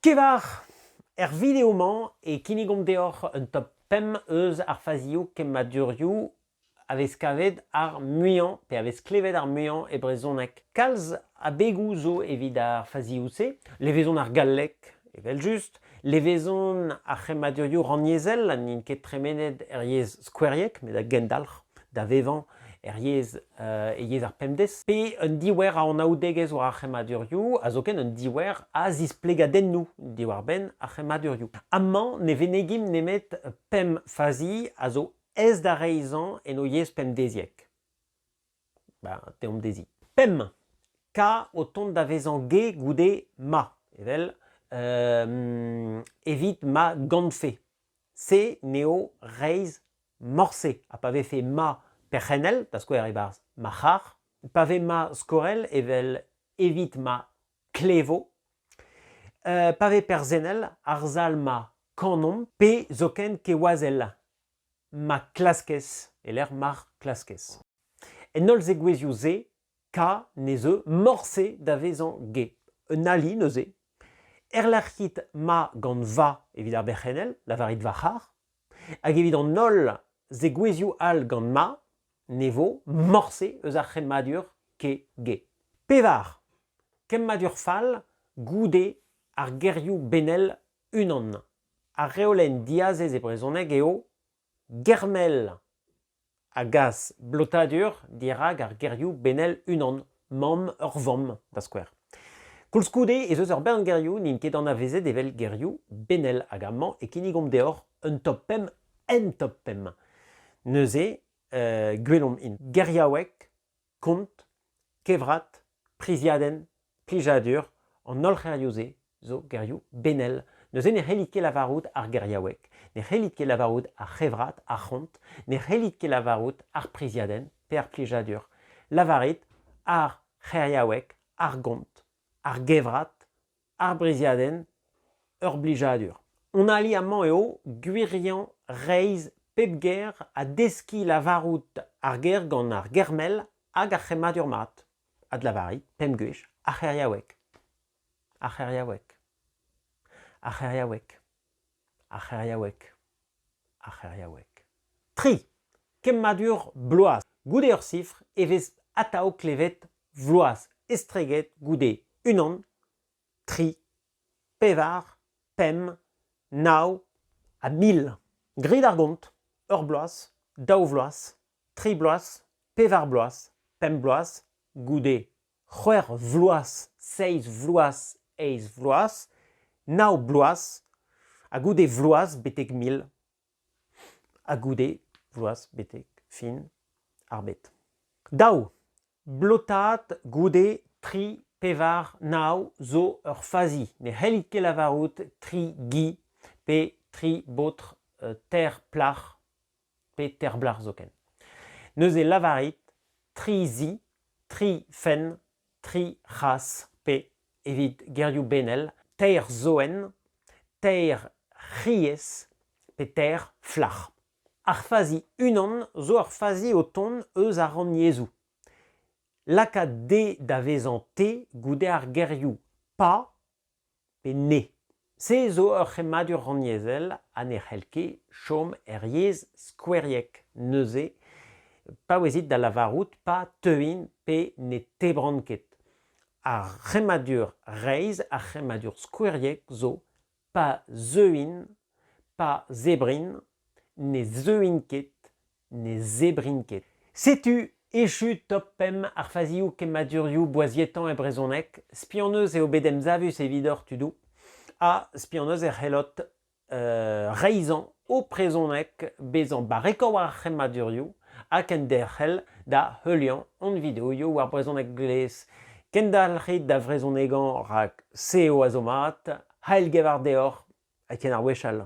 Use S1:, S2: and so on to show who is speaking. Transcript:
S1: Kevar, er video-mañ e kinnigomp deoc'h un top pemp eus ar fazioù kemmadurioù a vez kavet ar muiañ, pe a vez klevet ar muiañ e brezhoneg. Kalz abegoù zo evit ar fazioù-se. Levezon ar galleg, evel-just. Levezon ar c'hemmadurioù rannyezhel, n'int ket tremenet er yezh skoueriek, met a gendalc'h. da vevañ er yezh e yezh ar pemdez, pe un diouer a anaoudegezh war ar c'hemmadurioù, ha zoken un diouer a zisplegadennoù diwar-benn ar c'hemmadurioù. Amañ ne venegimp nemet pemp fazi a zo aes da reizhañ en o yezh pemdeziek. Ben, teomp dezhi. Pemp, K o tont da vezañ ge goude ma, evel evit ma gantfe. se n'eo reizh morse. Ha pa vefe ma perc'hennel, da skouer e-barzh ma c'harr, pa vez ma skorell evel evit ma klevo, euh, pa vez perzennel, ar sal ma kanomp, pe zoken kewazell ma klaskez, e-lec'h mar klaskez. En holl zegouezhioù-se K ne zeu morse da vezañ ge, un ali neuze. Erlec'hit ma gant va evit ar berc'hennel, lavarit va c'harr, hag evit an holl zegouezhioù all gant ma, ne vo morse eus ar c'hemmadur ke ge. Pevar. Kemmadur fall goude ar gerioù benel unan. Ar reolenn diazez e brezhoneg eo Germell a gas blotadur dirak ar gerioù benel unan, mamm ur vamm, da skouer. Koulskoude ez eus ur bern gerioù n'int ket anavezet evel gerioù benel hag amañ e kinnigomp deoc'h un top pemp en top pemp. Neuze, gwelomp int. Geriaoueg, kont, kevrat, priziadenn, plijadur, an holl c'herioù-se zo gerioù benel. Neuze ne c'hellit ket lavarout ar geriaoueg, ne c'hellit ket lavarout ar c'hevrat, ar c'hont, ne c'hellit ket lavarout ar priziadenn pe ar plijadur. Lavarit ar c'heriaoueg, ar gont, ar gevrat, ar briziadenn, ur blijadur. Hon ali amañ eo gwiriañ reizh pep ger ha deskiñ lavarout ar ger gant ar ger-mell hag ar c'hemmadur mat. Adlavarit, pemp gwech, ar c'heriaoueg. Ar c'heriaoueg. Ar c'heriaoueg. ar c'heriaoueg, ar c'heriaoueg. Tri kemmadur Bloaz goude ur sifr e vez atav klevet Vloaz estreget goude unan, tri, pevar, pemp, nav ha mil. Grit ar gont, ur bloaz, daou vloaz, tri bloaz, pevar bloaz, pemp bloaz, goude c'hwec'h vloaz, seizh vloaz, eizh vloaz, nav bloaz, ha goude vloaz betek mil, ha goude vloaz betek fin ar bed. Daou, blotaat goude tri, pevar, nav zo ur fazi. Ne c'hellit ket lavarout tri gi pe tri baotr ter plac'h pe Terblac'h zoken. Neuze lavarit tri zi, tri fenn, tri c'has, pe, evit gerioù benel, teir zoenn, teir c'hriez, pe teir flac'h. Ar fazi unan zo ur fazi o tont eus ar rannyezhoù. Lakaat D da vezañ T goude ar gerioù pa pe ne. Se zo ur c'hemmadur rannyezhel ha ne c'hell ket chom er yezh skoueriek, neuze paouezit da lavarout pa teuint pe ne tebront ket. Ar c'hemmadur reizh, ar c'hemmadur skoueriek zo pa zeuint, pa zebrint, ne zeuint ket ne zebrin ket. Setu echu top pemp ar fazioù kemmadurioù boazietañ e brezhoneg. Spi hon eus eo bet emsavus evidoc'h tudoù ha spi hon eus e c'hellot reizhañ ho prezhoneg bezañ barrekañ war ar c'hemmadurioù ha kenderc'hel da heuliañ hon videoioù war Brezhoneg Glez. Kendalc'hit da vrezhonegañ rak se eo a zo mat. Heil gevar deoc'h Etienne ar Wechall.